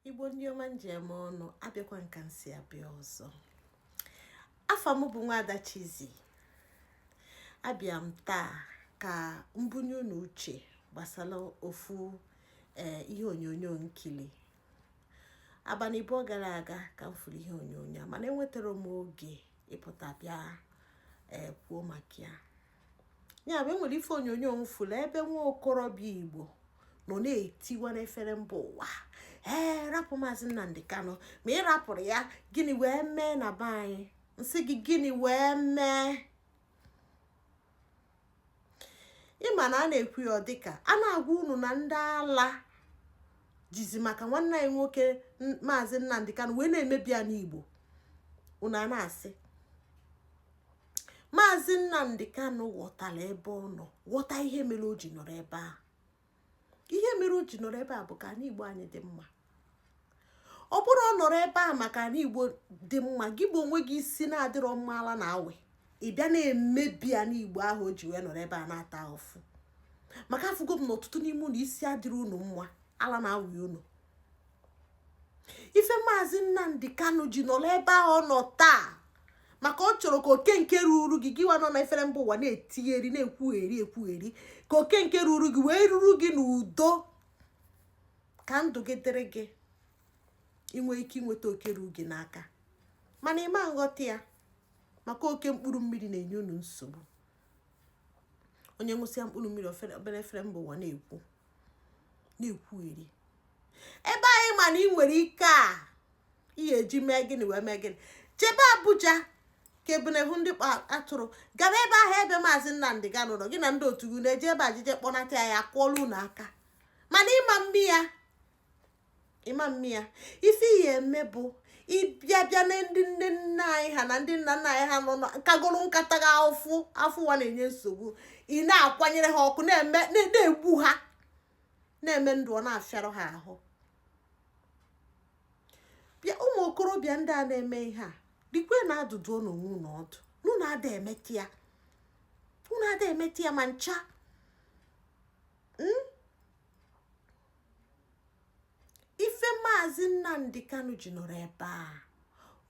igbo ndị ọma m ji eme ọnụ abịakwa m ka m si abịa ọzọ afa m bụ nwaada Chizzy abịa m taa ka m bunye unu uche gbasara ofu eh, ihe onyonyo m kili abalị abụọ gara aga ka m fụrụ ihe onyonyo a mana enwetarọ m oge ịpụta bịa eh, kwuo maka ya ya bụ enwere ife onyonyo m fụlụ ebe nwa okorobịa igbo nọ na-etiwa n'efere mba ụwa ee rapụ maazị nnamdị kanụ ma ị rapụrọ ya gịnị wee mee na be anyị m sị gị gịnị wee mee ịma na a na-ekwu ya dịka a na-agwa unu na ndị ala jizi maka nwanne anyị nwoke maazị nnamdị kanụ wee na-emebi anị igbo unu a na-asị maazị nnamdị kanụ ghọtara ebe ọ nọ ghọta ihe mere o ji nọrọ ebe a ihe mere o ji nọrọ ebe a bụ ka anị igbo anyị dị mma ọ bụrụ ọ nọrọ ebe a maka anị igbo dị mma gị bụ onwe gị isi na-adịrọ mma ala na-awị ị bịa na-emebi anị igbo ahụ o ji wee nọrọ ebe a na-ata afụfụ maka afụgo m na ọtụtụ n'ime unu isi adịrọ unu mma ala na-awị unu ife maazị nnamdị kanụ ji nọrọ ebe ahụ ọ nọ taa maka ọ chọrọ ka oke nke ruru gị gịwa nọ na efere mba ụwa na-etigheri na-ekwugheri ekwugheri ka oke nke ruru gị wee ruru gị n'udo ka ndụ gị dịrị gị ị nwee ike inweta oke ruru gị n'aka mana ị ma nghọta ya maka oke mkpụrụ mmiri na-enye unu nsogbu onye ṅụsịa mkpụrụ mmiri ọ bịa efere mba ụwa na-ekwu na-ekwugheri ebe anyị ma na ị nwere ike a ị ya-eji mee gịnị wee mee gịnị jebe Abuja ka ebunehu ndị kpa atụrụ gara ebe ahụ ebe maazị Nnamdị Kanụ nọ gị na ndị otu gị ejebe jee je kpọnata ya a kụọla unu aka mana ị ma mme ya ị ma mme ya ife ị ya-eme bụ ịbịa bịa na ndị nne nna anyị ha na ndị nna nna anyị ha nọ kagoro nka taa gị afụfụ ụwa na-enye nsogbu ị na-akwanyere ha ọkụ na-egbu ha na-eme ndụ ọ na-afịarụ ha ahụ bịa ụmụ okorobịa ndị a na-eme ihe a dịkwe na adụ dụọnụ onwe unu ọdụ na unu ada emeta ya unu ada emeta ya ma ncha hmm? ife maazị Nnamdi Kanu ji nọrọ ebe a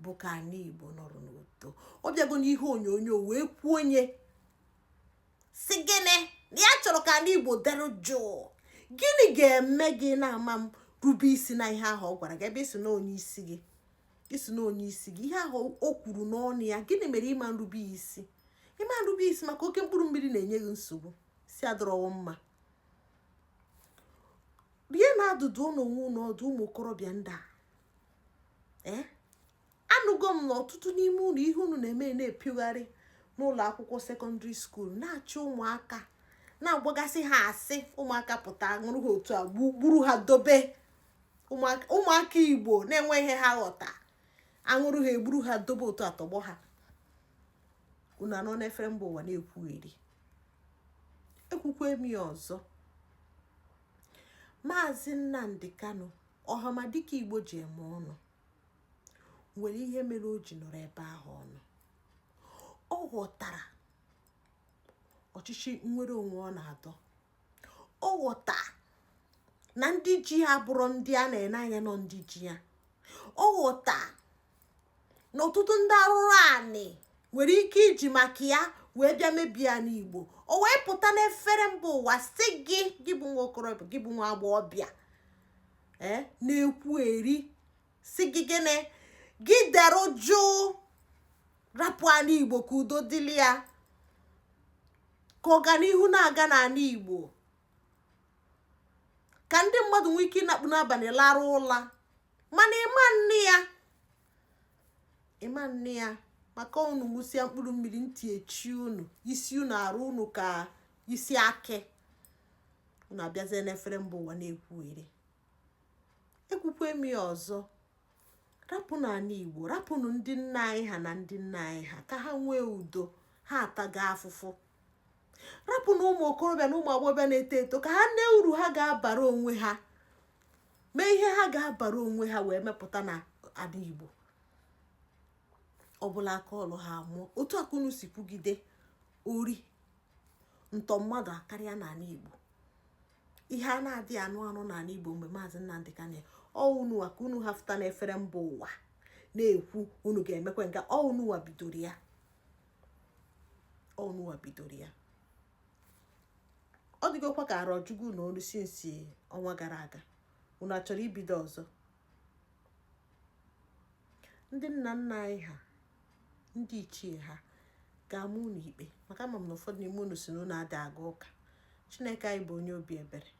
bụ ka anị Igbo nọrọ n'udo ọ bịago n'ihe onyonyo wee kwuo onye isi gị na ya chọrọ ka anị Igbo dere jụụ gịnị ga-eme gị na-ama erube isi na ihe ahụ ọ gwara gị ebe ị sị na onye isi gị ị sị na onye isi gị ihe ahụ o kwuru n'ọnụ ya gịnị mere ị ma nrube isi ị ma nrube isi maka oke mkpụrụ mmiri na-enye gị nsogbu isi adịrọkwa mma rie na adụdụ nụ onwe unu ọdụ ụmụ okorobịa ndị a eh? anụgo m na ọtụtụ n'ime unu ihe unu na-eme na-epiogharị n'ụlọ akwụkwọ secondary school na-achọ ụmụaka na-agbagasị ha asị ụmụaka pụta nwụrụ ha otu a gburu ha dobe ụmụaka igbo na-enwe ihe ha ghọta anwụrụ ha egburu ha dobe otu a tọgbọ ha unu anọ n'efere mba ụwa na-ekwugheri ekwukwe m ya ọzọ maazị nnamdi kanu ọhamadike igbo ji eme ọnụ nwere ihe mere o ji nọrọ ebe ahụ ọ nọ ọ ghọtara ọchịchị nnwere onwe ọ na-adọ ọ ghọta na ndị ji ya bụrụ ndị a na-ene anya na ọ ndị ji ya ọ ghọta na ọtụtụ ndị arụrụ anị nwere ike iji maka ya wee bịa mebie anị igbo o wee pụta n'efere mba ụwa sị gị gị bụ nwa okorobịa gị bụ nwa agbọghọbịa eh, na-ekwugheri sị gị gịnị gị dere jụụ rapụ anị igbo ka udo dịlị ya ka ọganihu na-aga n'anị igbo ka ndị mmadụ nwee ike ịnakpu n'abalị larụ ụla mana ịma nne ya ịma nne ya maka unu ṅụsịa mkpụrụ mmiri ntị echi unu isi unu arụ unu ka isi akị unu abịazie n'efere mba ụwa na-ekwugheri ekwukwe m ya ọzọ rapụnụ anị igbo rapụnụ ndị nna anyị ha na ndị nna anyị ha ka ha nwee udo ha ataga afụfụ rapụnụ ụmụ okorobịa na ụmụ agbọghọbịa na-eto eto ka ha nee uru ha ga-abara onwe ha mee ihe ha ga-abara onwe ha wee mepụta n'anị igbo ọ bụlụ aka ọlụ ha mụọ otu a ka unu si kwugide ori ntọ mmadụ akarịa n'anị igbo ihe a na-adịghị anụ anụ n'ala igbo mgbe maazị nnamdi kanu nọ unuwa ka unu ha fụta n'efere mba ụwa na-ekwu unu ga-emekwe nke ọ unuwa bidoro ya ọ unuwa bidoro ya ọ dịgokwa ka arọ jugu na olu since ọnwa gara aga unu achọrọ ibido ọzọ ndị nna nna anyị ha ndị ichie ha ga-ama unu ikpe maka ama m na ụfọdụ n'ime unu sị na unu ada aga ụka chineke anyị bụ onye obi ebere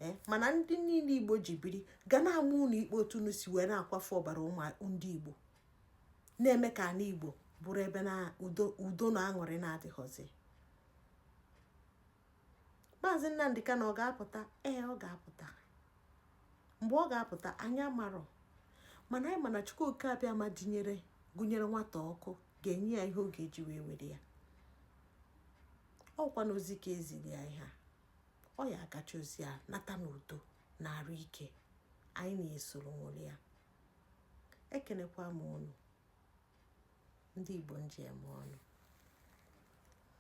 ee eh, mana ndị niile igbo ji biri ga na-ama unu ikpe otu unu si wee na-akwafu ọbara ụmụ ndị igbo na-eme ka ala igbo bụrụ ebe na udo na aṅụrị na-adịghọzi maazị nnamdị kanu ọ ga-apụta ee ọ ga-apụta mgbe ọ ga-apụta anyị amarọ mana anyị ma na chukwu oke abịama dinyere gụnyere nwata ọkụ ga-enye ya ihe ọ ga-eji wee were ya ọkwanụ ozi ka eziri ya ihe a ọ ya-agacha ozi a nata n'udo na arụ ike anyị na ya esoro ṅụrịa ekenekwa m ụnụ ndị Igbo njem ọnụ